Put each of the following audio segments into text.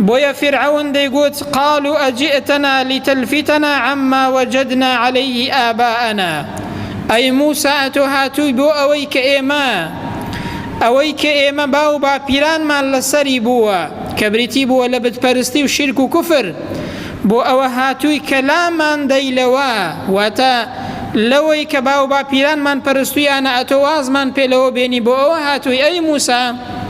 بۆیە فیرعەون دەیگوت، قالوا اجئتنا لتلفتنا عما وجدنا علیه آباءنا، ئەی موسا ئەتۆ هاتووی بۆ ئەوەی کە ئێمە ئەوەی کە ئێمە باو باپیرانمان لەسەری بووە کە بریتی بووە لە بت پەرستی و شیرک و کوفر بۆ ئەوە هاتووی کە لامان دەی لەوە واتە لەوەی کە باو باپیرانمان پەرستویانە ئەتۆ وازمان پێ لەوە بێنی بۆ ئەوە هاتووی ئەی موسا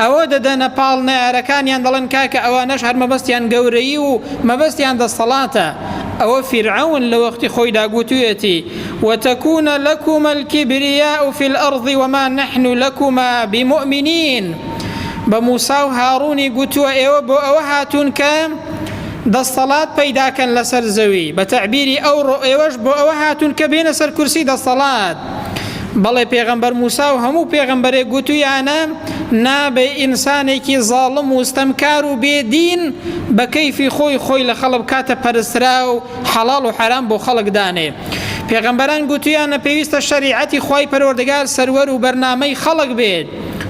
ئەوە دەدەنە پاڵ نەیارەکانیان دەڵێن کاکە ئەوانەش هەر مەبەستیان گەورەی و مەبەستیان دەسەڵاتە ئەوە فیرعون لە وەختی خۆیدا گوتوێتی وتەکوونە لەکومە الکبریا و فی الأرض وما نحن لەکوما بمؤمنین بە موسا و هاڕونی گوتووە ئێوە بۆ ئەوە هاتوون کە دەستەڵات پەیداکەن لەسەر زەوی بە تەعبیری ئەو ڕۆ ئێوەش بۆ ئەوە هاتوون کە بێنە سەر کورسی دەستەڵات بەڵێ پێغەمبەر موسا و هەموو پێغەمبەرێک گوتویانە نابێ ئینسانێکی زاڵم و ستەمکار و بێدین بە کەیفی خۆی خۆی لە خەڵک کاتە پەرسترا و حەڵاڵ و حەرام بۆ خەڵک دانێ پێغەمبەران گوتویانە پێویستە شەریعەتی خی پەروەردەگار سەروەر و بەرنامەی خەڵک بێت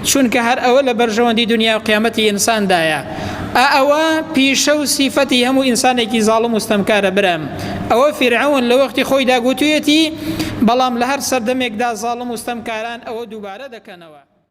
چونکە هەر ئەوە لە بەرژەوەندی دنیا و قیامەتی ئینساندایە ئەوە پیشە و سیفەتی هەموو ئینسانێکی زاڵم و ستەمکارە برم ئەوە فیرعەون لە وەختی خۆیدا گوتویەتی، بەڵام لە هەر سەردەمێکدا زاڵم و ستەمکاران ئەوە دووبارە دەکەنەوە.